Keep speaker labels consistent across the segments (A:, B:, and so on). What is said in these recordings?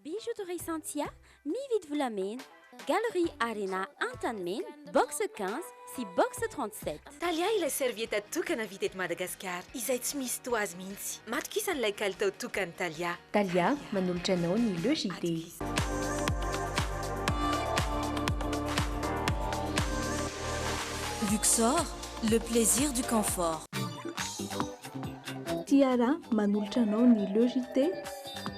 A: Bijouterie Santhia, mividy volamena, Galerie Arena Antanimena, box quinze sy box trente sept. Thalia ilay serviette
B: tokana vita eto Madagasikara izay tsy misy toa azy mihitsy. Matokisa an'ilay kalitao tokany Thalia. Thalia, manolotra
C: anao ny Le JT.
D: Luxor, le plaisir du confort.
E: Tiara, manolotra anao ny Le JT.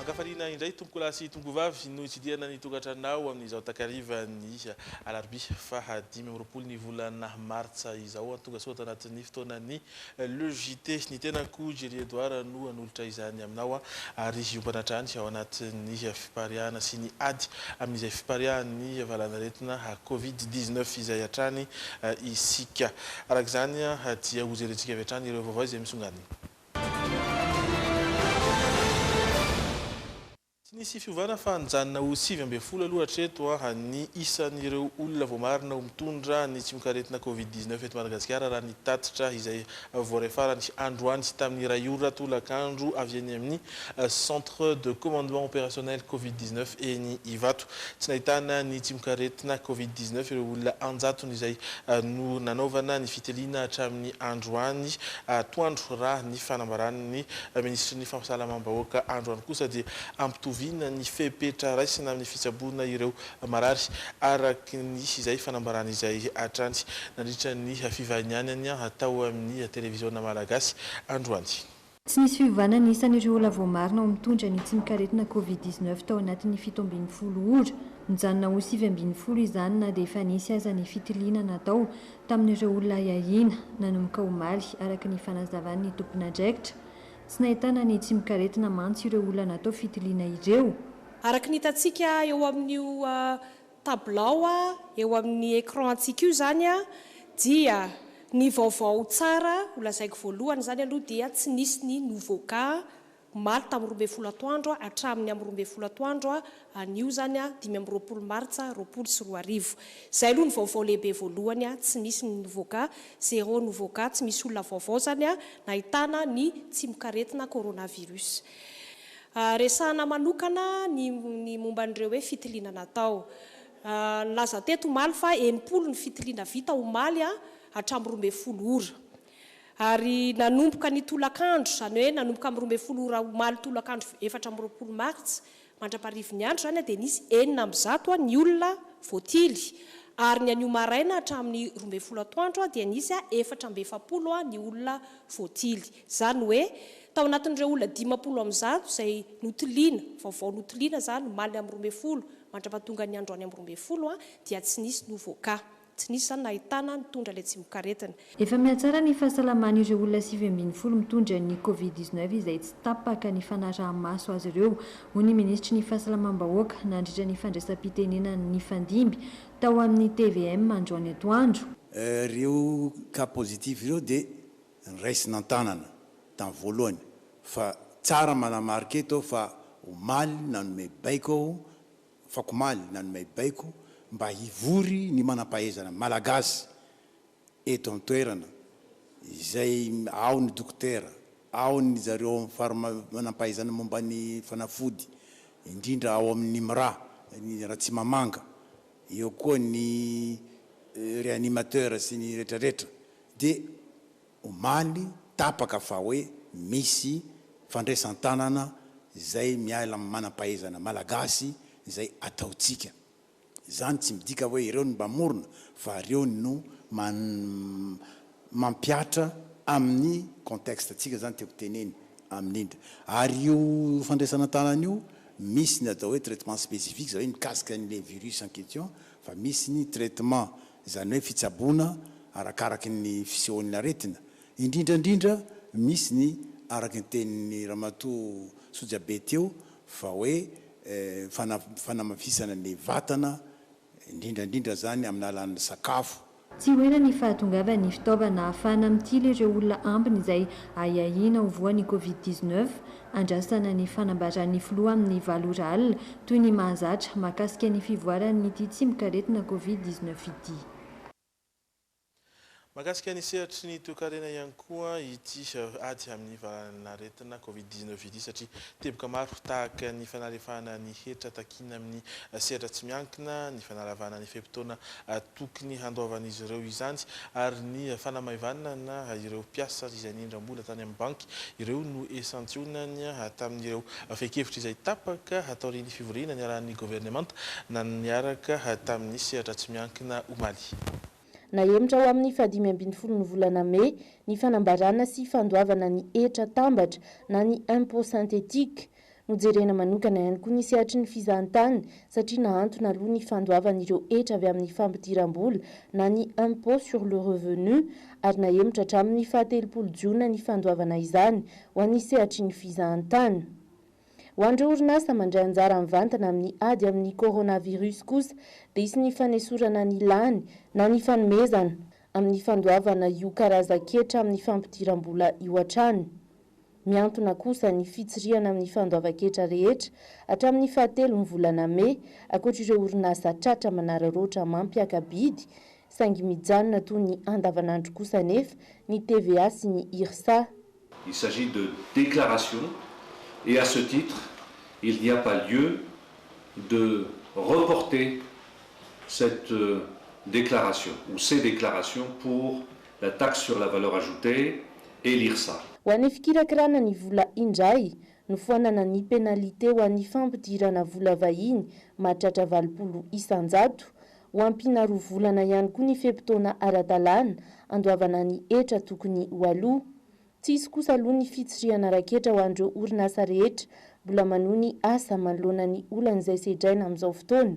F: Ankafaliana indray tompokolahy sy tompokovavy no hitsidihana ny tokantranonao amin'izao takarivan'ny alarobia faha dimy amby roapolo ny volana martsa izao. Tongasoa tao anatin'ny fotoanan'ny Le JT, Ny tenako Jerry Edouard no hanolotra izany aminao aho ary hiompana hatrany ao anatin'ny fipariahana sy ny ady amin'izay fipariahan'ny valanaretina covid dix neuf izay hatrany isika. Araka izany dia hojerentsika avy hatrany ireo vaovao izay misongadina. Tsy nisy fiovana fa nijanona ho sivy ambin'ny folo aloha hatreto ny isan'ireo olona voamarina ho mitondra ny tsimokaretina Covid dix neuf eto Madagasikara raha ny tatitra izay voaray farany androany sy tamin'ny iray ora tolakandro avy eny amin'ny Centre de Commandement Opérationnel Covid dix neuf eny Ivato. Tsy nahitana ny tsimokaretina Covid dix neuf ireo olona an-jatony izay nanaovana ny fitiliana hatramin'ny androany atoandro raha ny fanambaran'ny Minisitry ny Fahasalamam-bahoaka androany kosa dia hampitoviana ny fepetra raisina amin'ny fitsaboana ireo marary, araka ny izay fanambarany izay hatrany nandritra ny fivahinianany tao amin'ny televiziona malagasy androany. Tsy nisy
C: fiovana ny isan'ireo olona voamarina ho mitondra ny tsimok'aretina covid dix neuf tao anatin'ny fito ambin'ny folo ora. Nijanona ho sivy ambin'ny folo izany na dia efa nisy aza ny fitiliana natao tamin'ireo olona hiahiana nanomboka omaly, araka ny fanazavan'ny tompon'andraikitra. Tsy nahitana ny tsimok'aretina mantsy ireo olona natao fitiliana ireo. Araka ny hitantsika
G: eo amin'io tabilao eo amin'ny écran antsika io izany dia ny vaovao tsara ho lazaiko voalohany izany aloha dia tsy nisy ny nouveau cas. Omaly tamin'ny roa ambin'ny folo atoandro hatramin'ny amin'ny roa ambin'ny folo atoandro anio izany, dimy amby roapolo martsa roapolo sy roa arivo. Izay aloha ny vaovao lehibe voalohany, tsy misy ny nouveau cas, zéro nouveau cas, tsy misy olona vaovao izany nahitana ny tsimokaretina coronavirus. Resahina manokana ny momba an'ireo hoe fitiliana natao. Nilaza teto omaly fa enimpolo ny fitiliana vita omaly hatramin'ny roa ambin'ny folo ora. Ary nanomboka ny tolakandro, izany hoe nanomboka amin'ny roa ambin'ny folo ora omaly tolakandro efatra amby roapolo martsa mandra-parivin'ny andro izany dia nisy enina amby zato ny olona voatily ary ny anio maraina hatramin'ny roa ambin'ny folo atoandro dia nisy efatra amby efapolo ny olona voatily. Izany hoe tao anatin'ireo olona dimampolo amby zato izay notiliana, vaovao notiliana izany omaly amin'ny roa ambin'ny folo mandra-pahatongan'ny andro any amin'ny roa ambin'ny folo dia tsy nisy novoaka. Tsy nisy izany nahitana nitondra ilay tsimokaretina. Efa mihatsara ny
C: fahasalamany ireo olona sivy ambin'ny folo mitondra ny Covid dix neuf izay tsy tapaka ny fanaraha-maso azy ireo, hoy ny minisitry ny Fahasalamam-bahoaka nandritra ny fandraisam-pitenenany nifandimby tao amin'ny tvm androany atoandro. Ireo
H: cas positif ireo dia raisina an-tanana tamin'ny voalohany fa tsara manamarika eto aho fa omaly nanome baiko aho Fakomaly nanome baiko mba hivory ny manam-pahaizana malagasy eto an-toerana izay ao ny dokotera, ao ny zareo manam-pahaizana momba ny fanafody indrindra ao amin'ny IMRA, ny Ratsimamanga, eo koa ny réanimateur sy ny retraretra dia. omaly tapaka fa hoe misy fandraisan-tanana izay miala amin'ny manam-pahaizana malagasy izay ataontsika. Izany tsy midika hoe ireo no mpamorona fa ireo no mampihatra amin'ny contexte antsika izany tiako teneny amin'ny indra. Ary io fandraisana tanana io misy ny atao hoe traitement spécifique izay hoe mikasika an'ilay virus en question fa misy ny traitement izany hoe fitsaboana arakaraky ny fisehoan'ny aretina, indrindra indrindra misy ny araky ny tenin'ny ramatoa Sojabe teo fa hoe fanamafisana ny vatana indrindra indrindra izany amin'ny alalan'ny sakafo, Tsy ho ela ny
C: fahatongavan'ny fitaovana ahafahana mitily ireo olona ambiny izay ahiahiana ho voan'ny Covid dix neuf. Andrasana ny fanambaran'ny filoha amin'ny valo ora alina, toy ny mahazatra, mahakasika ny fivoaran'ity tsimok'aretina Covid dix neuf ity.
F: Mahakasika ny sehatry ny toekarena ihany koa ity ady amin'ny valan'aretina Covid dix neuf ity satria teboka maro tahaka ny fanalefahana ny hetra takiana amin'ny sehatra tsy miankina, ny fanalavana ny fe-potoana tokony handoavan'izy ireo izany ary ny fanamaivanana ireo mpiasa izay nindram-bola tany amin'ny banky ireo no esantionany tamin'ireo fehin-kevitra izay tapaka taorian'ny fivoriana niarahan'ny governemanta niaraka tamin'ny sehatra tsy miankina omaly. Nahemotra
I: ho amin'ny fahadimy ambin'ny folon'ny volana mey ny fanambarana sy fandoavana ny hetra tambatra na ny impôt synthétique. Nojerena manokana ihany koa ny sehatry ny fizahantany satria nahantona aloha ny fandoavan'ireo hetra avy amin'ny fampidiram-bola na ny impôt sur le revenu ary nahemotra hatramin'ny faha telopolo jiona ny fandoavana izany ho an'ny sehatry ny fizahantany. Ho an'ireo orinasa mandray anjara mivantana amin'ny ady amin'ny coronavirus kosa dia hisy ny fanesorana ny lany na ny fanomezana amin'ny fandoavana io karazan-ketra amin'ny fampidiram-bola io hatrany. Mihantona kosa ny fitsirihana amin'ny fandoavan-ketra rehetra hatramin'ny fahatelon'ny volana mey, ankoatra ireo orinasa tratra manararaotra mampiaka-bidy, saingy mijanona toy ny andavanandro kosa anefa ny TVA sy ny Irsa. Il s'agit
J: de déclarations et à ce titre, il n'y a pas lieu de reporter cette déclaration ou ces déclarations pour la taxe sur la valeur ajoutée et l'IRSA. Ho an'ny fikirakirana
I: ny vola indray, nofoanana ny pénalité ho an'ny fampidirana vola vahiny mahatratra valopolo isan-jato. Ho ampiana roa volana ihany koa ny fe-potoana ara-dalàna andoavana ny hetra tokony ho aloa. Tsy hisy kosa aloha ny fitsirihana raketra ho an'ireo orinasa rehetra mbola manohy ny asa manoloana ny olan'izay sedraina amin'izao fotoana.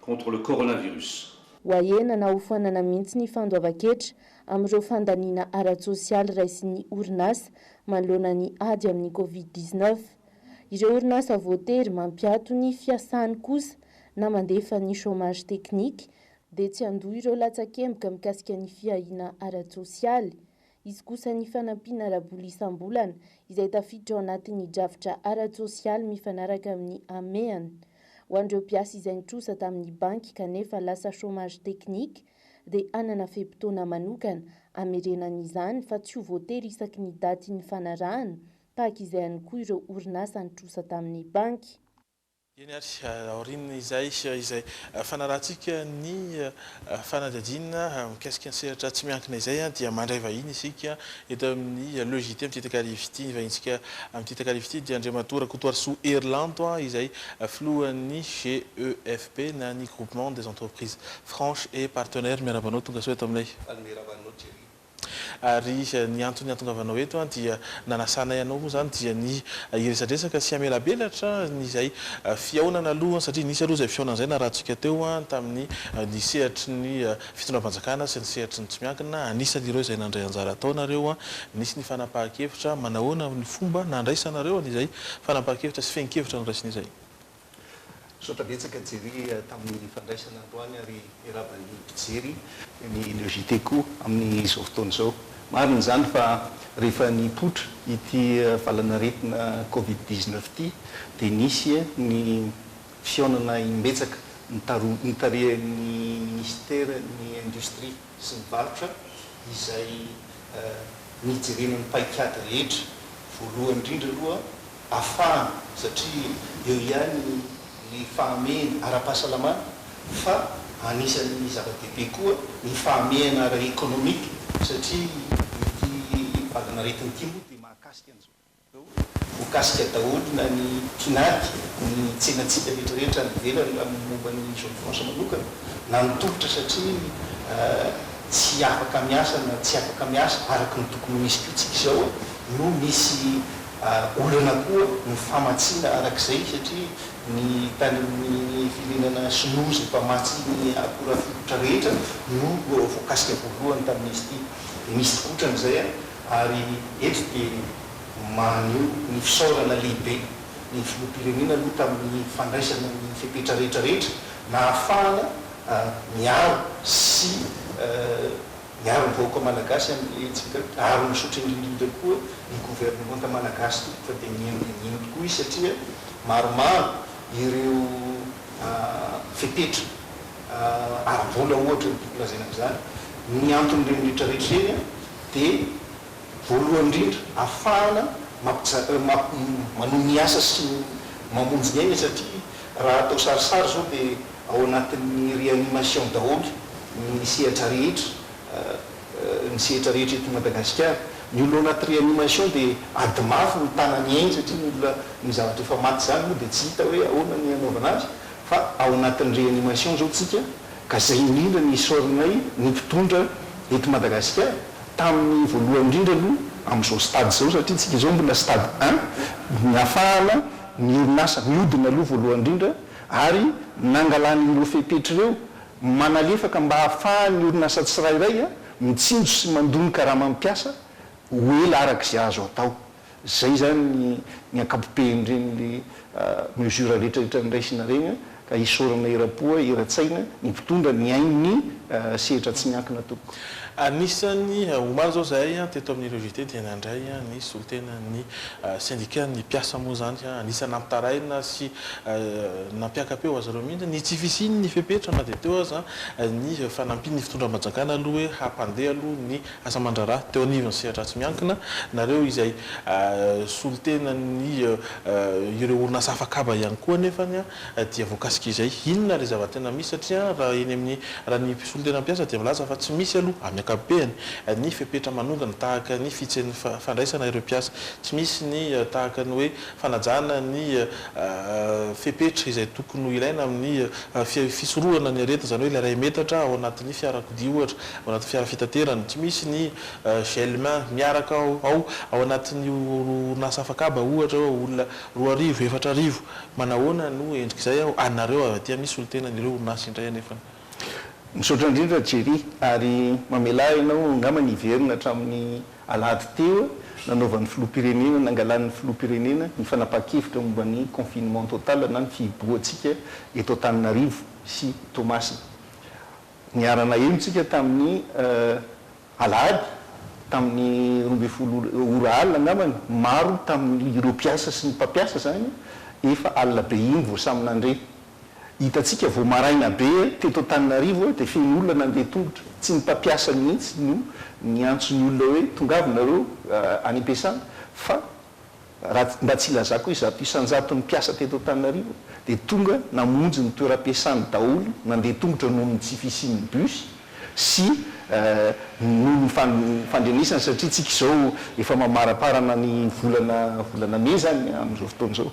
J: contre le coronavirus. Wahena na
I: hofoanana mihitsy ny fandoavan-ketra amin'ireo fandaniana ara-tsosialy raisin'ny orinasa manoloana ny ady amin'ny Covid dix neuf. Ireo orinasa voatery mampiato ny fiasany kosa na mandefa ny chômage technique dia tsy handoa ireo latsakemboka mikasika ny fiahiana ara-tsosialy Hisy kosa ny fanampiana ara-bola isam-bolana, izay tafiditra ao anatin'ny drafitra ara-tsosialy mifanaraka amin'ny hamehana. Ho an'ireo mpiasa izay nitrosa tamin'ny banky kanefa lasa chômage technique, dia hanana fe-potoana manokana hamerenana izany fa tsy ho voatery isaky ny daty nifanarahana, tahaka izay ihany koa ireo orinasa nitrosa tamin'ny banky. Eny ary,
F: aorian'izay, izay fanarahantsika ny fanadihadiana mikasika ny sehatra tsy miankina izay dia mandray vahiny isika eto amin'ny Le JT amin'ity takariva ity. Ny vahintsika amin'ity takariva ity dia Andriamatoa Rakotoarisoa Herilanto izay filohan'ny GEFP na ny Groupement des Entreprises Franches et Partenaires. Miarahaba anao, tongasoa eto aminay. Miarahaba anao Jerry. Ary ny antony iantongavanao eto an dia nanasanay anao moa izany dia ny hiresadresaka sy hamelabelatra an izay fihaonana aloha satria nisy aloha izay fihaonana izay narahantsika teo an tamin'ny ny sehatry ny fitondram-panjakana sy ny sehatry ny tsy miankina anisany ireo izay nandray anjara ataonareo an nisy ny fanapahan-kevitra manahoana ny fomba nandraisanareo an izay fanapahan-kevitra sy fehin-kevitra noraisinay izay Misaotra
K: betsaka Jerry tamin'ny fandraisana androany ary miarahaba ny mpijery ny Le JT koa amin'izao fotoana izao. Marina izany fa rehefa nipoitra ity valan'aretina covid dix neuf ity dia nisy ny fihaonana imbetsaka nitarihan'ny Ministeran'ny Industria, sy ny varotra izay nijerena ny paikady rehetra, voalohany indrindra aloha afahana satria eo ihany ny fahamehana ara-pahasalamana fa anisan'ny zava-dehibe koa ny fahamehana ara-ekonomika satria ity valanaretina ity moa dia mahakasika an'izao. Ho kasika daholo na ny tinady ny tsenantsika rehetrarehetra any ivelany raha ny momba ny zone franche manokana na ny tolotra satria tsy afaka miasa na tsy afaka miasa araka ny tokony ho izy koa tsika izao no misy olana koa ny famatsiana araka izay satria ny tany amin'ny firenana sinoa izay mpamatsy ny akora fototra rehetra no voakasika voalohany tamin'izy ity. Misy kotrany izay a! Ary eto dia maneho ny fisaorana lehibe ny Filoham-pirenena aloha tamin'ny fandraisana ny fepetra rehetra rehetra nahafahana miaro sy miaro ny vahoaka Malagasy amin'ny hetsika ary misaotra indrindra indrindra koa ny Governemanta Malagasy tompoko fa dia mino dia mino tokoa izy satria maromaro ireo fepetra ara-bola ohatra no tokony lazaina amin'izany ny anton'ireny rehetra rehetra ireny dia voalohany indrindra afahana manohy ny asa sy mamonjy ny aina satria raha atao sarisary izao dia ao anatin'ny réanimation daholo ny sehatra rehetra ny sehatra rehetra eto Madagasikara. Ny olona ao anaty réanimation dia ady mafy mitana ny ainy satria ny olona ny zavatra efa maty izany moa dia tsy hita hoe ahoana ny hanaovana azy fa ao anatin'ny réanimation izao tsika Ka zay indrindra ny isaorinay ny mpitondra eto Madagasikara tamin'ny voalohany indrindra aloha amin'izao stade izao satria tsika izao mbola stade un ny hafahana ny orinasa miodina aloha voalohany indrindra ary nangalany ireo fepetra ireo manalefaka mba hahafahan'ny orinasa tsirairay mitsinjo sy mandò ny karamam piasa ho ela arak'izay azo atao. Zay zany ny ny ankapobehin reny le mesure rehetra rehetra nraisina reny an, ka isaorana erampoa eratsaina ny mpitondra nihaino ny sehatra tsy miankina tompoko. Anisan'ny
F: omaly izao izahay teto amin'ny Reo Invité dia nandray ny solontenan'ny sendikan'ny mpiasa moa izany ka anisan'ny nampitaraina sy nampiaka-peo azy ireo mihitsy ny tsy fisian'ny fepetra na dia teo aza ny fanampian'ny fitondram-panjakana aloha hoe hampandeha aloha ny Asa aman-draharaha teo anivon'ny sehatra tsy miankina, nareo izay solontenan'ny ireo orinasa hafa kaba ihany koa anefa dia voakasika izay. Inona ilay zava-tena misy satria raha eny amin'ny raha ny solontenan'ny mpiasa dia milaza fa tsy misy aloha amin'ny ankapobeany ny fepetra manongana tahaka ny fihitsen'ny fandraisana ireo mpiasa, tsy misy ny tahaka ny hoe fanajana ny fepetra izay tokony ho ilaina amin'ny fisorohana ny aretina izany hoe ilay iray metatra ao anatin'ny fiarakodia ohatra. ao anaty fiara fitaterana, tsy misy ny gel main miaraka ao, ao anatin'ny orinasa afakaba ohatra hoe olona roa arivo, efatra arivo, manahoana no endrik'izay aho, anareo avy aty amin'ny solontenan'ireo orinasa indray anefany. Misaotra
K: indrindra Jerry ary mamelà ianao angamba ny hiverina hatramin'ny alahady teo nanaovan'ny filoham-pirenena, nangalan'ny filoham-pirenena ny fanapahan-kevitra momba ny confinement total na ny fihibohantsika eto Antananarivo sy Toamasina. Niara-naheno isika tamin'ny alahady, tamin'ny roa ambin'ny folo ora alina angamba ny maro tamin'ireo mpiasa sy ny mpampiasa izany, efa alina be iny vao samy nandre. Hitantsika vao maraina be teto Antananarivo dia feno olona nandeha tongotra, tsy ny mpampiasa mihitsy no niantso ny olona hoe tongava nareo any am-piasana fa Raha mba tsy ilazako hoe zato isan-jaton'ny mpiasa teto Antananarivo dia tonga namonjy ny toeram-piasany daholo, nandeha tongotra noho ny tsy fisian'ny bus sy noho ny fandrenesany satria isika izao efa mamaramparana ny volana volana mey izany amin'izao fotoana izao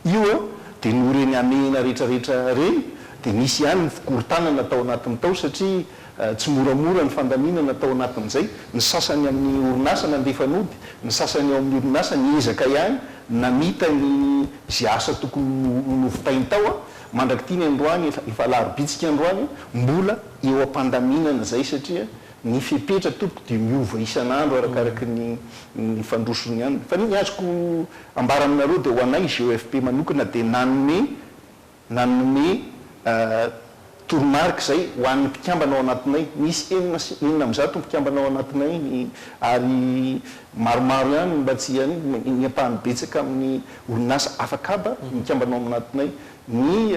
K: io a! dia noho ireny hamehana rehetrarehetra ireny dia nisy ihany ny fikorontanana tao anatiny tao satria Tsy moramora ny fandaminana tao anatin'izay. Ny sasany amin'ny orinasa nandefa nody, ny sasany ao amin'ny orinasa niezaka ihany namita ny izay asa tokony novitainy tao. Mandrak'ity ny androany, efa alaharbitsika androany, mbola eo am-pandaminana izay satria ny fepetra tompoko dia miova isan'andro arakaraky ny fandrosony ihany. Fa ny azoko ambara aminareo dia ho anay GEFP manokana dia nanome. Nanome toromarika izay ho an'ny mpikambana ao anatinay. Nisy enina sy enina amby zato mpikambana ao anatinay ny ary maromaro ihany ny mba tsy hiany ny ampahany betsaka amin'ny orinasa afakaba mikambana ao anatinay. Ny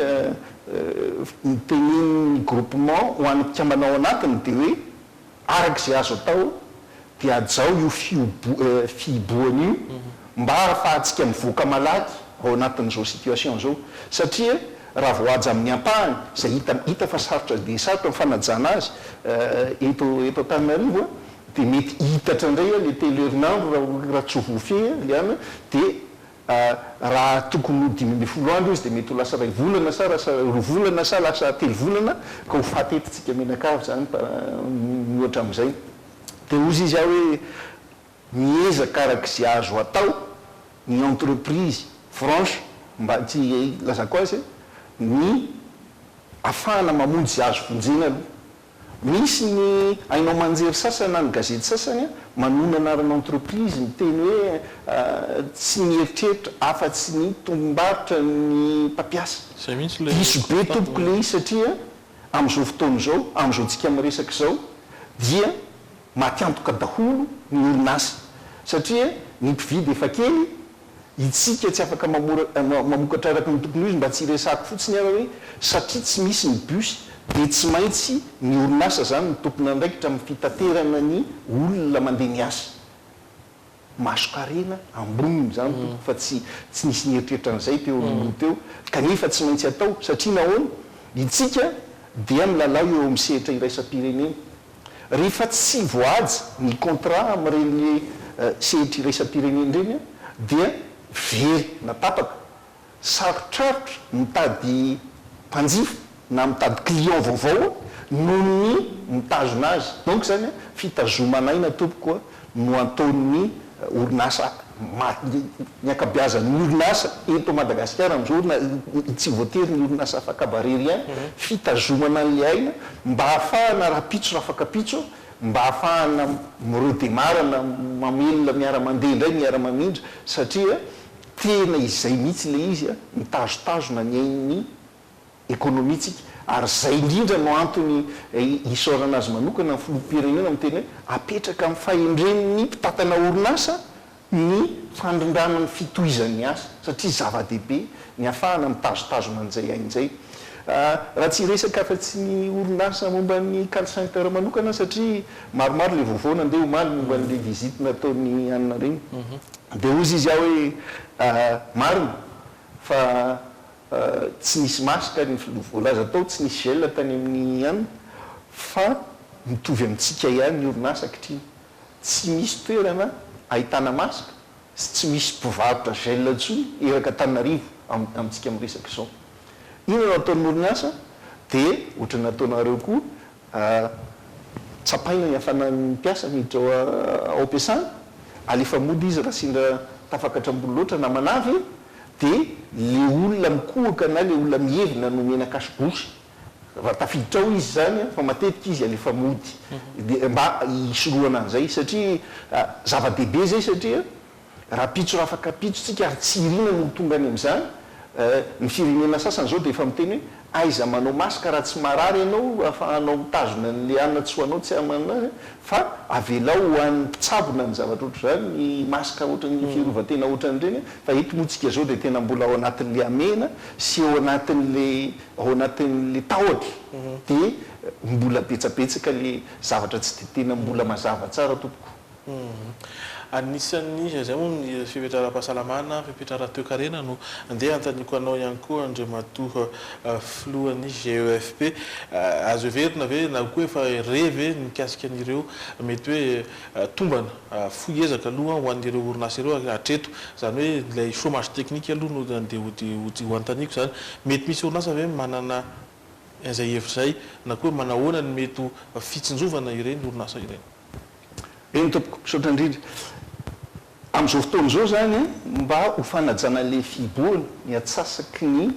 K: tenenin'ny groupement ho an'ny mpikambana ao anatiny dia hoe. Araka izay azo atao dia hajao io fihibohana io mba hahafahantsika mivoaka malaky ao anatin'izao situation izao satria raha vao haja amin'ny ampahany izay hita hita fa sarotra dia sarotra ny fanajana azy eto eto Antananarivo dia mety hiitatra indray ilay telo herinandro raha tsy ho voafehiny dia Raha tokony ho dimy ambin'ny folo andro izy dia mety ho lasa iray volana sa lasa roa volana sa lasa telo volana ka ho faty eto tsika mianakavy zany par mihoatra amizay dia hozy izy aho hoe miezaka arak'izay azo atao ny entreprise franche mba tsy ilazako azy ny afahana mamonjy izay azo vonjena aloha Misy ny haino aman-jery sasany na ny gazety sasany manohy ny anarana entreprise miteny hoe tsy mieritreritra afa-tsy ny tombom-barotra ny mpampiasa. Diso be tompoko le izy satria amin'izao fotoana izao, amin'izao tsika miresaka izao dia matiantoka daholo ny orinasa satria ny mpividy efa kely, Isika tsy afaka mamokatra araka ny tokony ho izy mba tsy hiresahako fotsiny ary hoe satria tsy misy ny bus dia tsy maintsy ny orinasa izany no tompon'andraikitra amin'ny fitaterana ny olona mandeha miasa. Masonkarena amboniny izany tompoko fa tsy tsy nisy nieritreritra an'izay teo aloha teo kanefa tsy maintsy atao satria nahoana? Isika dia milalao eo amin'ny sehatra iraisam-pirenena Rehefa tsy voahaja ny contrat amin'ireny sehitra iraisam-pirenena ireny dia very na tapaka. Sarotrarotra mitady mpanjifa na mitady client vaovao noho ny mitazona azy. Donc izany fitazoman'aina tompoko no anton'ny orinasa maro. Ny ankabeazan'ny orinasa eto Madagasikara amin'izao na tsy voatery ny orinasa afakaba rery ihany, fitazomana an'ilay aina mba hahafahana rahampitso rafakapitso, mba hahafahana miredemara na mamelona miara-mandeha indray, miara-mamindra satria tena izay mihitsy ilay izy, mitazotazona ny ain'ny ekonomintsika ary izay indrindra no antony isaorana azy manokana ny filoham-pirenena amin'ny teny hoe apetraka amin'ny fahendren'ny mpitantana orinasa ny fandrindrana ny fitohizan'ny asa satria zava-dehibe ny hafahana mitazotazona an'izay aina izay raha tsy hiresaka afa-tsy ny orinasa momba ny call center manokana satria maromaro ilay vaovao nandeha omaly momba an'ilay visite nataon'i Anina Reny dia hozy izy aho hoe marina fa Tsy nisy masque ary ny filoha voalaza tao tsy nisy gel tany amin'ny an fa mitovy amintsika ihany ny orinasa ankitriny. Tsy misy toerana ahitana masque sy tsy misy mpivarotra gel intsony eraky Antananarivo amintsika miresaka izao. Inona no ataon'ny orinasa dia ohatran'ny ataonareo koa A, Tsapaina ny hafanan'ny mpiasa miditra ao am-piasana, alefa mody izy raha sendra tafakatram-bolo loatra na manavy, dia ilay olona mikohaka na ilay olona mihevina no omena cache-bouche raha tafiditra ao izy izany, fa matetika izy alefa mody, dia mba hisorohana an'izay, satria zava-dehibe izay, satria. Rahampitso rafaka pitso tsika ary tsy irina no ho tonga any amin'izany eh, ny firenena sasany izao dia efa miteny hoe aiza manao masque raha tsy marary ianao ahafahanao mitazona ny liana tsy ho anao tsy amanao eh, fa avelao ho an'ny mpitsabo na ny zavatra ohatr'izany ny masque ohatran'ny fiarovan-tena ohatran'ireny eh, fa eto moa tsika izao dia tena mbola ao anatin'ilay hamehana sy ao anatin'ilay ao anatin'ilay tahotra dia mbola betsabetsaka ilay zavatra tsy dia tena mbola mazava tsara tompoko. Anisan'ny
F: iza izay moa ny fepetra ara-pahasalamana, fepetra ara-toekarena no andeha hanontaniako anao ihany koa Andriamatoa Filohan'ny GEFP. Azo heverina ve na koa efa re ve ny mikasika an'ireo mety hoe tombana fohy ezaka aloha ho an'ireo orinasa ireo hatreto? Izany hoe ilay chômage technique aloha no andeha ho hanontaniako izany. Mety misy orinasa ve manana izay hevitra izay na koa manahoana ny mety ho fitsinjovana ireny orinasa ireny? Eny
K: tompoko, misaotra indrindra. Amin'izao fotoana izao izany mba ho fanajana ilay fihibohana, ny atsasaky ny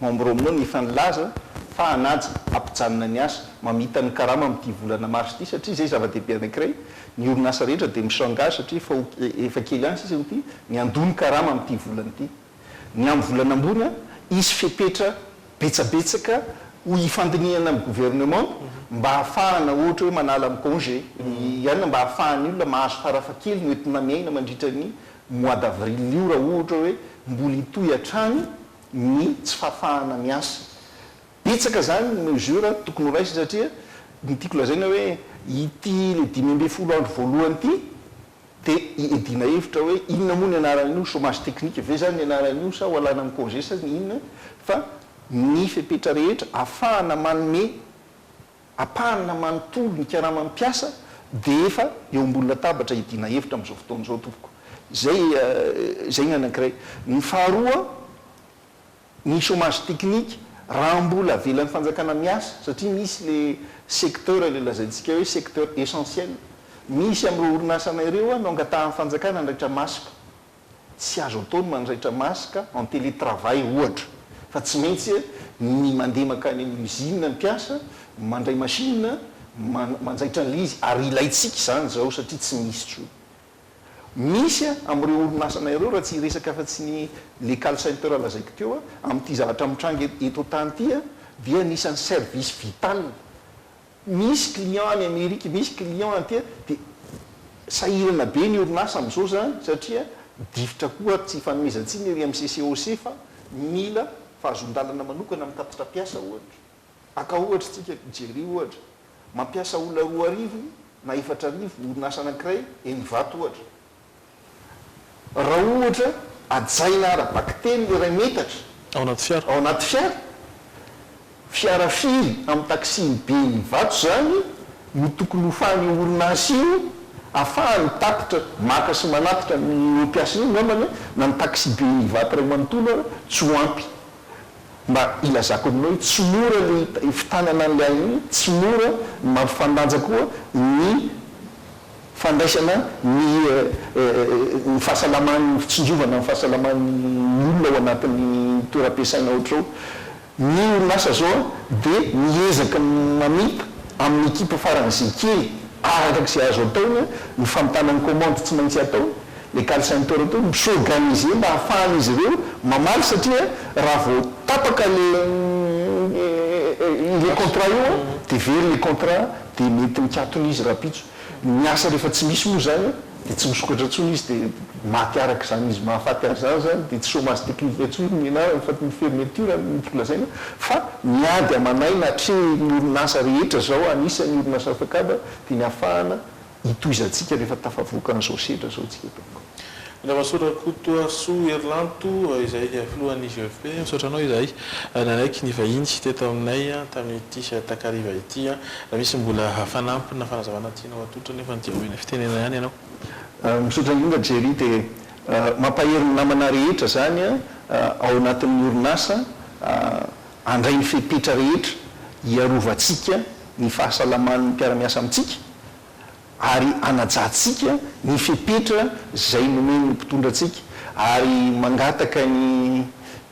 K: membres aminao no efa nilaza fa hanaja, hampijanona ny asa, mamita ny karama amin'ity volana mars ity satria izay zava-dehibe anankiray, ny orinasa rehetra dia mi-s'engage satria efa kely ihany sisa ity, ny handoa ny karama amin'ity volana ity. Ny amin'ny volana ambony, hisy fepetra betsabetsaka ho hifandinihana amin'ny governemanta mba hahafahana ohatra hoe manala amin'ny congé ihany na mba hahafahan'ny olona mahazo farafahakeliny hoentina miaina mandritra ny mois d'avril io raha ohatra hoe mbola hitohy hatrany ny tsy fahafahana miasa. Betsaka izany ny mesures tokony ho raisina satria ny tiako lazaina hoe ity ilay dimy ambin'ny folo andro voalohany ity, Dia iadiana hevitra hoe inona moa ny anaran'io, chômage technique ve izany ny anaran'io sa ho alana ny congé sa ny inona, fa ny fepetra rehetra afahana manome ampahana manontolo ny karama ny mpiasa dia efa eo ambony latabatra iadiana hevitra amin'izao fotoana izao tompoko. Izay izay ny anankiray. Ny faharoa. Ny chômage technique raha mbola avelan'ny fanjakana miasa satria misy le secteur le lazaintsika hoe secteur essentiel misy amin'ireo orinasanay ireo an no angatahan'ny fanjakana andraitra maska tsy azo atao ny mandraitra maska en télétravail ohatra fa tsy maintsy ny mandeha mankany amin'ny usine ny mpiasa mandray machine manjaitra an'ilay izy ary ilaintsika izany izao satria tsy misy intsony Misy amin'ireo orinasanay ireo, raha tsy hiresaka afa-tsy ny le call center lazaiko teo, amin'ity zavatra mitranga eto an-tany ity, dia anisan'ny service vital. Misy client any Amerika, misy client aty, dia sahirana be ny orinasa amin'izao izany, satria difotra koa ary tsy ifanomezan-tsiny ery amin'ny CCOC fa mila fahazoan-dalana manokana amin'ny tatitra mpiasa, ohatra. Aka ohatra isika, jereo ohatra. Mampiasa olona roa arivo na efatra arivo orinasa anankiray eny Ivato ohatra. Raha ohatra hajaina ara-bakiteny ny iray metatra Ao anaty fiara. ao
F: anaty fiara,
K: fiara firy amin'ny taxi-be-n'ny Ivato izany no tokony hofahan'io orinasa io afahany tatitra maka sy manatitra an'io mpiasany io? Angambany na ny taxi-be-n'ny Ivato iray manontolo ary tsy ho ampy. Mba hilazako aminao hoe tsy mora ny hitanana an'ilay ahiana, tsy mora ny mampifandanja koa ny fandraisana ny ny fahasalaman'ny fitsinjovana ny fahasalaman'ny olona ao anatin'ny toeram-piasaina ohatr'izao. Ny orinasa zao dia miezaka mamita amin'ny ekipa faran'izay kely araka izay azo ataony ny famitana ny kaomandy tsy maintsy ataony, Les Carlsen Toro Tour mi-s'organiser mba ahafahan'izy ireo mamaly satria raha vao tapaka ilay ilay contrat io an, dia very ilay contrat dia mety mikatona izy rahampitso. Ny asa rehefa tsy misy moa izany an, dia tsy misokatra intsony izy dia maty araka izany izy. Mahafaty azy izany izany dia tsy chômage technique intsony no ianarany fa ny fermeture no tiako lazaina fa ny ady aman'aina atrehin'ny orinasa rehetra izao, anisan'ny orinasa Fecab, dia ny ahafahana Hitohizantsika rehefa tafavoaka an'izao sedra izao isika Tompoko.
F: Ravasorakotoasoa Herilanto, izay filohan'ny IGFP, misaotra anao izay nanaiky ny vahiny teto aminay tamin'ity takariva ity. Raha misy mbola fanampiny na fanazavana tianao atolotra anefa dia omena fitenenana ihany ianao. Misaotra indrindra
K: Jerry dia mampahery ny namana rehetra izany ao anatin'ny orinasa handray ny fepetra rehetra hiarovantsika ny fahasalaman'ny mpiara-miasa amintsika ary hanajantsika ny fepetra izay nomen'ny mpitondra antsika ary mangataka ny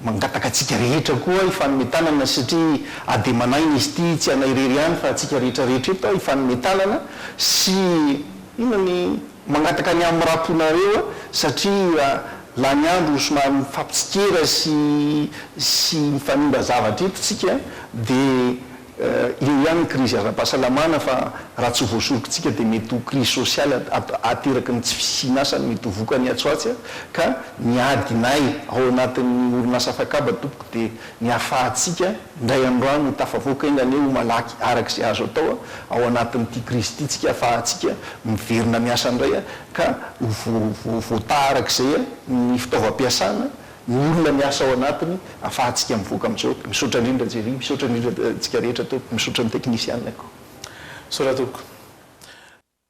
K: mangataka antsika rehetra koa hifanome tanana satria ademan'aina izy ity tsy anay irery ihany fa antsika rehetra rehetra eto hifanome tanana sy inona ny mangataka ny hamiraponareo satria lany andro somary mifampitsikera sy sy mifanimba zavatra eto tsika dia Eo ihany ny krizy ara-pahasalamana fa raha tsy voasorokintsika dia mety ho krizy sosialy ateraky ny tsy fisian'asa no mety ho vokany atsy ho atsy ka ny adinay ao anatin'ny orinasa Fakaba tompoko dia ny ahafahantsika indray andro any ho tafavoaka enga anie ho malaky araka izay azo atao ao anatin'ity krizy ity tsika ahafahantsika miverina miasa indray ka ho voatà araka izay ny fitaovam-piasana Ny olona miasa ao anatiny afahantsika mivoaka amin'izao. Misaotra indrindra Jerry, misaotra indrindra antsika rehetra tompoko, misaotra ny teknisianako. Misaotra tompoko.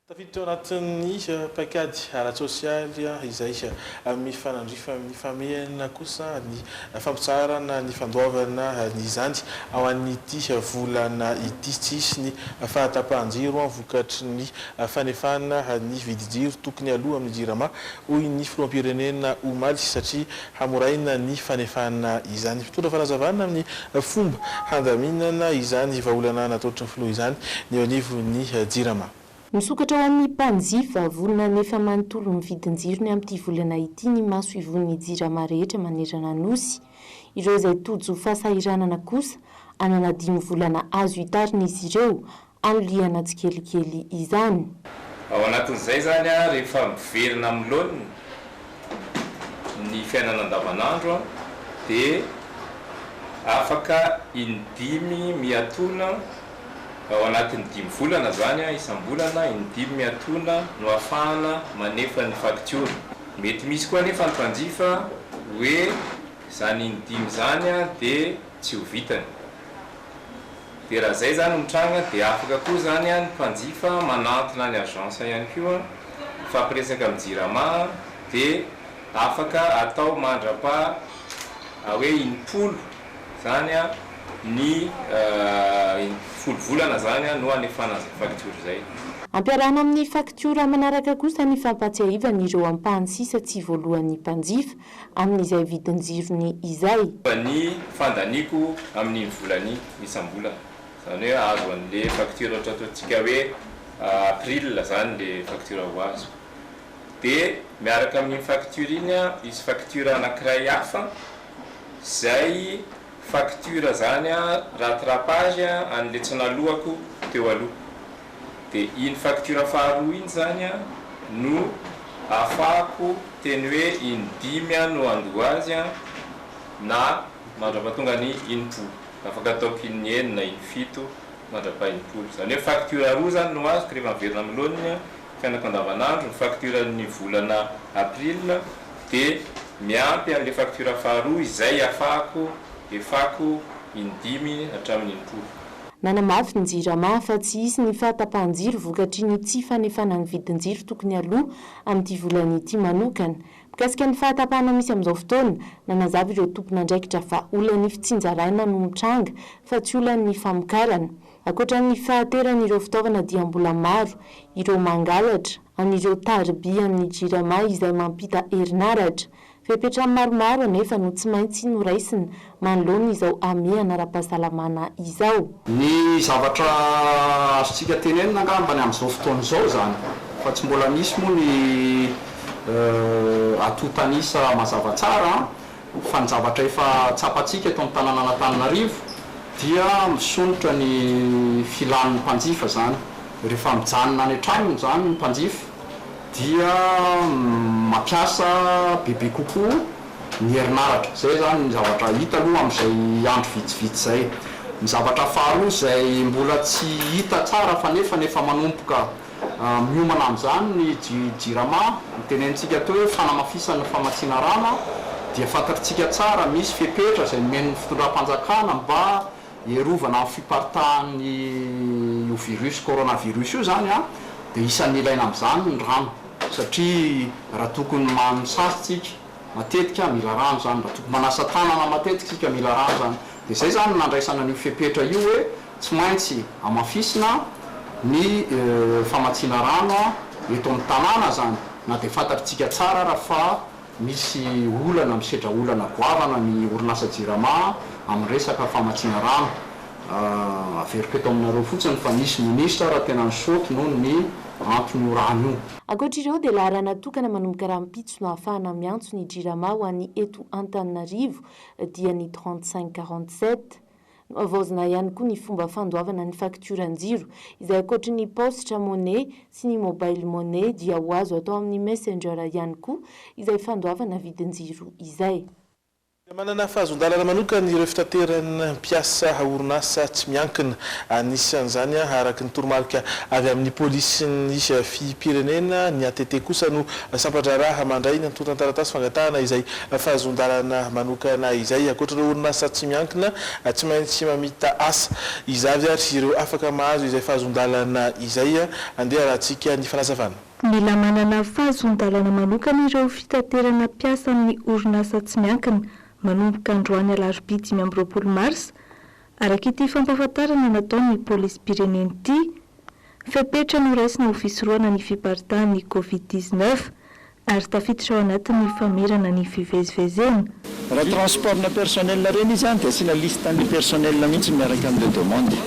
F: Tafiditra ao anatin'ny paikady ara-tsosialy izay mifanandrify amin'ny famehana kosa ny fampitsaharana ny fandoavana izany ao an'ity volana ity. Tsy hisy ny fahatapahan-jiro vokatry ny fanefana ny vidin-jiro tokony aloa amin'ny Jirama hoy ny filoham-pirenena omaly, satria hamoraina ny fanefana izany. Mpitondra fanazavana amin'ny fomba handaminana izany vahaolana nataotry ny filoha izany ny eo anivon'ny Jirama. Misokatra ho
I: an'ny mpanjifa vonona hanefa manontolo ny vidin-jirony amin'ity volana ity ny maso ivohon'ny Jirama rehetra manerana Nosy. Ireo izay tojo fahasahiranana kosa hanana dimy volana azo hitarin'izy ireo anilihana tsikelikely izany. Ao anatin'izay
L: izany, rehefa miverina amin'ny laoniny ny fiainana andavanandro dia afaka in-dimy miatoana, ao anatin'ny dimy volana izany, isam-bolana, in-dimy miatoana no ahafahana manefa ny faktiora. Mety misy koa anefa ny mpanjifa hoe izany in-dimy izany dia tsy ho vitany. dia raha izay izany no mitranga dia afaka koa izany ny mpanjifa manantona ny agence ihany koa mifampiresaka amin'ny jirama dia afaka atao mandrapa hoe in-polo izany ny folo volana izany no hanefana izay facture izay. Ampiarahana amin'ny
I: faktiora manaraka kosa ny fampahatsiahivan'ireo ampahany sisa tsy voaloan'ny mpanjifa amin'izay vidin-jirony izay. Fa ny
L: fandaniako amin'iny volany isam-bolana, izany hoe azo an'ilay facture ohatra ataontsika hoe april izany ilay facture ho azo, dia miaraka amin'iny facture iny hisy facture anankiray hafa izay facture izany rattrapage an'ilay tsy naloako teo aloha. dia iny facture faharoa iny izany an no afahako teny hoe in dimy an no handoa azy an na mandrapatonga ny in polo afaka ataoko in enina na in fito mandrapaha in polo izany hoe facture roa izany no azoko rehefa miverina amin'ny laoniny an fiainako andavanandro ny facture ny volana april dia miampy an'ilay facture faharoa izay afahako efako in dimy hatramin'ny in polo. Nanamafy ny
I: Jirama fa tsy hisy ny fahatapahan-jiro vokatry ny tsy fanefana ny vidin-jiro tokony aloa amin'ity volana ity manokana. Mikasika ny fahatapahana misy amin'izao fotoana, nanazava ireo tompon'andraikitra fa olan'ny fitsinjaraina no mitranga fa tsy olan'ny famokarana. Ankoatra ny fahateran'ireo fitaovana dia mbola maro ireo mangalatra an'ireo tariby amin'ny Jirama izay mampita herinaratra, Fepetra maromaro anefa no tsy maintsy noraisina manoloana izao hamehana ara-pahasalamana izao. Ny zavatra
M: azontsika tenenina angamba ny amin'izao fotoana izao izany, fa tsy mbola misy moa ny atontan'isa mazava tsara, fa ny zavatra efa tsapantsika eto amin'ny tanànan'Antananarivo dia misondrotra ny filan'ny mpanjifa izany. Rehefa mijanona any an-tranony izany ny mpanjifa dia mampiasa bebe kokoa ny herinaratra. Izay izany ny zavatra hita aloha amin'izay andro vitsivitsy izay. Ny zavatra faharoa izay mbola tsy hita tsara fa nefa ny efa manomboka miomana amin'izany ny Jirama, ny tenenintsika atao hoe fanamafisana famatsiana rano dia fantatritsika tsara misy fepetra izay nomen'ny fitondram-panjakana mba Hiarovana amin'ny fiparitahan'io virus coronavirus io izany dia isan'ny ilaina amin'izany ny rano satria raha tokony manisasa isika matetika mila rano izany, raha tokony manasa tanana matetika isika mila rano izany dia izay izany no nandraisana an'io fepetra io hoe tsy maintsy hamafisina ny famatsiana rano eto amin'ny tanàna izany na dia fantatr'tsika tsara ary fa Misy olana, misedra olana goavana ny orinasa Jirama amin'ny resaka famatsiana rano. Averiko eto aminareo fotsiny fa nisy minisitra ary tena nisaoty noho ny anton'io rano io. Ankoatra ireo dia laharana
I: tokana manomboka rahampitso no ahafahana miantso ny Jirama ho an'ny eto Antananarivo dia ny 35 47. Nohavaozina ihany koa ny fomba fandoavana ny faktioran-jiro, izay ankoatry ny paositra money sy ny mobile money dia ho azo atao amin'ny Messenger ihany koa izay fandoavana vidin-jiro izay. Mila manana
F: fahazon-dalana manokana ireo fitateran mpiasa orinasa tsy miankina. Anisan'izany, araka ny toromarika avy amin'ny polisin'ny fipirenena, ny ATT kosa no sampan-draharaha mandray ny antontan-taratasy fangatahana izay Fahazoan-dalana manokana izay, ankoatra ireo orinasa tsy miankina, tsy maintsy mamita asa. Iza avy ary ireo afaka mahazo izay fahazoan-dalana izay? Andeha harahantsika ny fanazavana. Mila manana
E: fahazoan-dalana manokana ireo fitaterana mpiasa amin'ny orinasa tsy miankina manomboka androany alarobia dimy amby roapolo marsa, araka ity fampahafantarana nataon'ny polisim-pirenena ity. Fepetra noraisina ho fisorohana ny fiparitahan'ny Covid dix neuf ary tafiditra ao anatin'ny famerana ny fivezivezena. Raha
N: transport-na personnel ireny izy dia asiana liste-n'ny personnel mihitsy miaraka amin'ilay demande.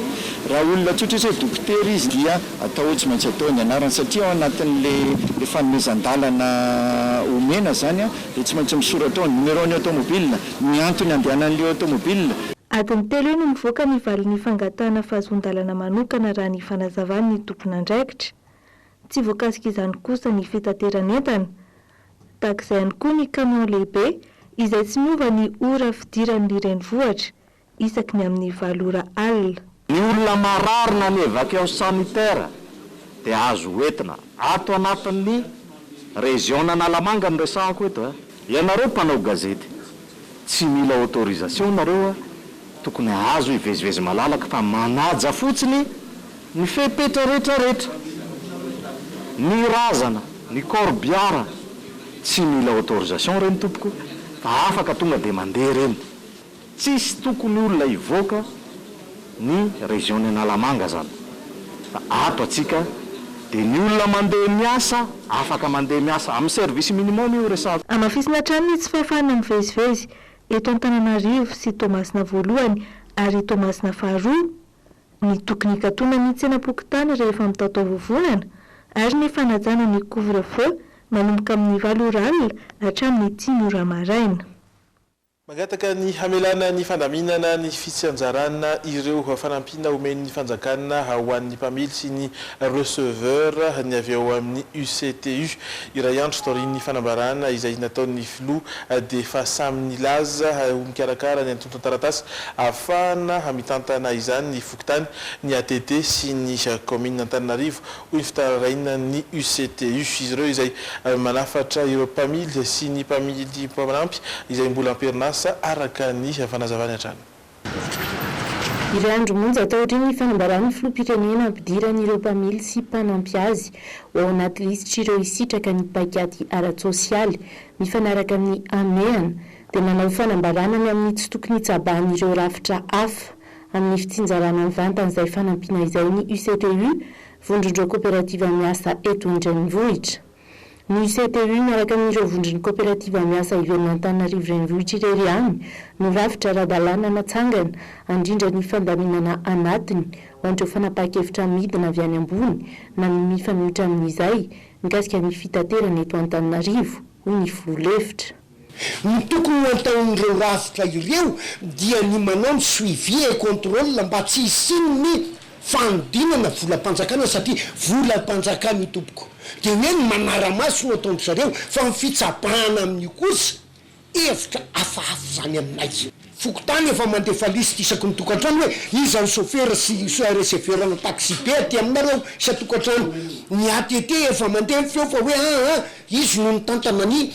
N: Raha olona tsotra izy hoe dokotera izy dia atao hoe tsy maintsy atao ny anarany satria ao anatin'ilay fanomezan-dalana omena izany dia tsy maintsy misoratra ao ny numéro-n'ny automobile Ny antony andehanan'ilay aotomobilina. Adiny telo eo
E: no mivoaka ny valin'ny fangatahana fahazoan-dalana manokana raha ny fanazavan'ny tompon'andraikitra. Tsy voakasika izany kosa ny fitateran'entana. Tahaka izay ihany koa ny kamiao lehibe izay tsy miova ny ora fidiran'ny renivohitra. isaky ny amin'ny valo ora alina. Ny olona
N: marary na ny evacqueos sanitaires dia azo hoentina ato anatin'ny Reziona-Analamanga no resahako eto eh. Ianareo mpanao gazety, tsy mila autorisation nareo a, tokony azo hivezivezy malalaka fa manaja fotsiny ny fepetra rehetra rehetra. Ny razana, ny corbiara, tsy mila autorisation reny tompoko fa afaka tonga dia mandeha reny. Tsisy tokony olona hivoaka ny région ny Analamanga zany fa ato atsika de ny olona mandeha miasa afaka mandeha miasa amin'ny service minimum io resahako. Hamafisina hatrany ny tsy
E: fahafahana mivezivezy eto Antananarivo sy Toamasina voalohany ary Toamasina faharoa, ny tokony hikatona ny tsenam-pokontany rehefa mitaotao vovonana ary ny fanajana ny couvre-feu manomboka amin'ny valo ora alina hatramin'ny dimy ora maraina. Mangataka
F: ny hamelana ny fandaminana ny fitsianjarana ireo fanampiana omen'ny fanjakana ho an'ny mpamily sy ny receveur ny avy ao amin'ny UCTU. Iray andro taorian'ny fanambarana izay nataon'ny filoha dia efa samy nilaza ho mikarakara ny antontan-taratasy ahafahana mitantana izany ny fokontany, ny ATT sy ny kaominina Antananarivo Hoy fitararaina ny UCTU, izy ireo izay manafatra ireo mpamily sy ny mpamily mpanampy izay mbola am-perinasa, araka ny fanazavany hatrany.
I: Iray andro monja taorian'ny fanambaran'ny filoham-pirenena hampidiran'ireo mpamily sy mpanampy azy ho ao anaty lisitr'ireo hisitraka ny paikady ara-tsosialy mifanaraka amin'ny hamehana, dia nanao fanambarana ny amin'ny tsy tokony hitsabahan'ireo rafitra hafa. amin'ny fitsinjarana mivantana izay fanampiana izay ny UCTU, Vondron'ireo Koperativa Miasa eto an-dRenivohitra. Ny UCTU miaraka amin'ireo Vondron'ny Koperativa Miasa Iverin'Antananarivo Renivohitra irery ihany no rafitra ara-dalàna natsangana handrindra ny fandaminana anatiny ho an'ireo fanapahan-kevitra midina avy any ambony na ny mifanohitra amin'izay mikasika ny fitaterana eto Antananarivo, hoy ny Filoha lefitra. Ny
O: tokony ho antaon'ireo rafitra ireo dia ny manao ny suivi et controle mba tsy hisian'ny fanodinana volam-panjakana satria volam-panjakana io tompoko dia hoe ny manara-maso no ataon-dry zareo fa ny fitsabahana amin'io kosa hevitra hafahafa izany aminay. Fokontany efa mandefa liste isaky ny tokantrano hoe iza ny chauffeur sy receveur ana taxi be aty aminareo isan-tokantrano. Ny ATT efa mandeha ny feo fa hoe aa izy no mitantana ny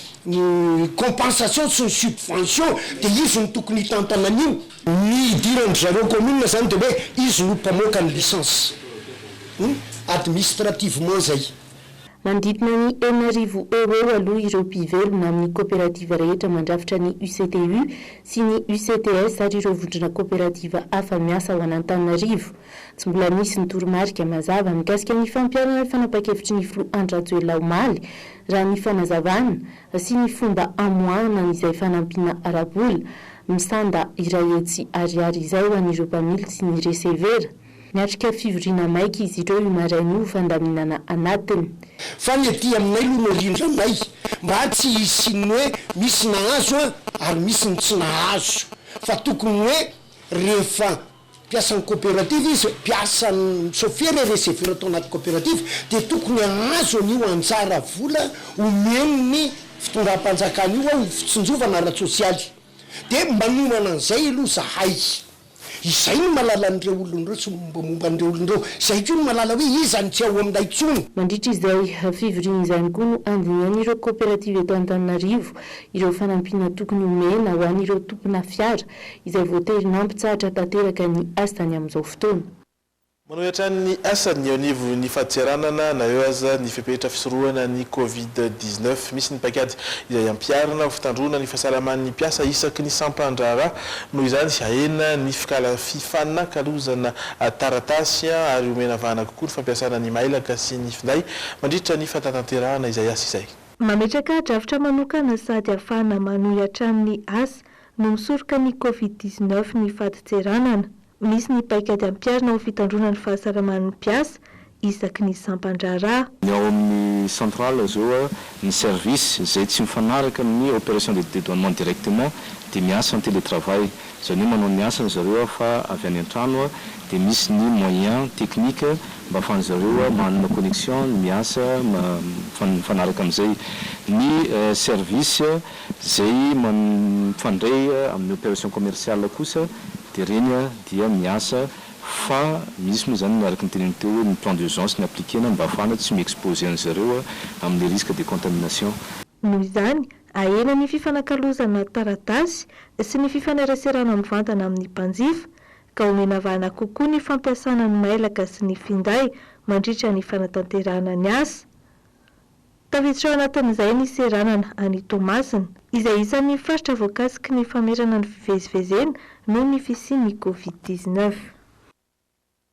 O: compensation sy ny subvention dia izy no tokony hitantana an'io. Ny idiran-dry zareo commune izany dia hoe izy no mpamoaka ny licence. Administrativement izay. Manodidina
I: ny enina arivo eo ho eo aloha ireo mpivelona amin'ny koperativa rehetra mandrafitra ny UCTU sy ny UCTS ary ireo vondrona koperativa hafa miasa ao an'Antananarivo. Tsy mbola nisy ny toromarika mazava mikasika ny fampiharana ny fanapahan-kevitry ny filoha Andry Rajoelina omaly, raha ny fanazavana, sy ny fomba hamoahana an'izay fanampiana ara-bola, misanda iray hetsy ariary izay ho an'ireo mpamily sy ny resevera. Niatrika fivoriana maika izy ireo io maraina io fandaminana anatiny. Fa ny aty
O: aminay aloha no rindranay mba tsy hisian'ny hoe misy nahazo an ary misy ny tsy nahazo fa tokony hoe rehefa mpiasan'ny coopérative izy, mpiasan'ny sôfera ireo sefera tao anaty coopérative dia tokony hahazo an'io anjara vola omen'ny fitondram-panjakana io ao fitsinjovana ara-tsosialy dia manomana an'izay aloha zahay. Izay no mahalala an'ireo olona ireo sy ny mombamomba an'ireo olona ireo. Izay koa no mahalala hoe iza no tsy ao aminay intsony. Mandritra izay
I: fivoriana izay ihany koa no andinihan'ireo kaoperativa eto Antananarivo ireo fanampiana tokony homena ho an'ireo tompona fiara izay voatery nampitsahatra tanteraka ny asany amin'izao fotoana. Manohy
F: hatrany ny asany eo anivon'ny faditseranana na eo aza ny fepetra fisorohana ny Covid dix neuf. Misy ny paikady izay hampiharina ho fitandroana ny fahasalaman'ny mpiasa isaky ny sampan-draharaha. Noho izany, hahena ny fikala fifanakalozana taratasy ary omena vahana kokoa ny fampiasana ny mailaka sy ny finday mandritra ny fanatanterahana izay asa izay. Mametraka drafitra
E: manokana sady hahafahana manohy hatrany ny asa no misoroka ny Covid dix neuf ny faditseranana. Misy ny paikady ampiharina ho fitandroana ny fahasaraman'ny mpiasa isaky ny sampan-draharaha. Ny ao amin'ny
M: centrale zao ny service izay tsy mifanaraka amin'ny operation de dedouanement directement dia miasa en télétravail, izany hoe manao ny asany zareo fa avy any an-trano dia misy ny moyen technique mba afahan'ny zareo manana connexion ny miasa mifanaraka amin'izay ny service izay mifandray amin'ny operation commerciale kosa Dia ireny dia miasa fa misy moa izany araka ny tenenao teo hoe ny plan d'urgence ny appliquer-na mba hahafahana tsy mi-exposer an'izy ireo amin'ny risque de contamination. Noho izany, ahena
E: ny fifanakalozana taratasy sy ny fifaneraserana mivantana amin'ny mpanjifa, ka omena vahana kokoa ny fampiasana ny mailaka sy ny finday mandritra ny fanatanterahana ny asa. Tafiditra ao anatin'izay ny seranana any Toamasina, izay isan'ny faritra voakasiky ny famerana ny fivezivezena noho ny fisian'ny Covid dix-neuf.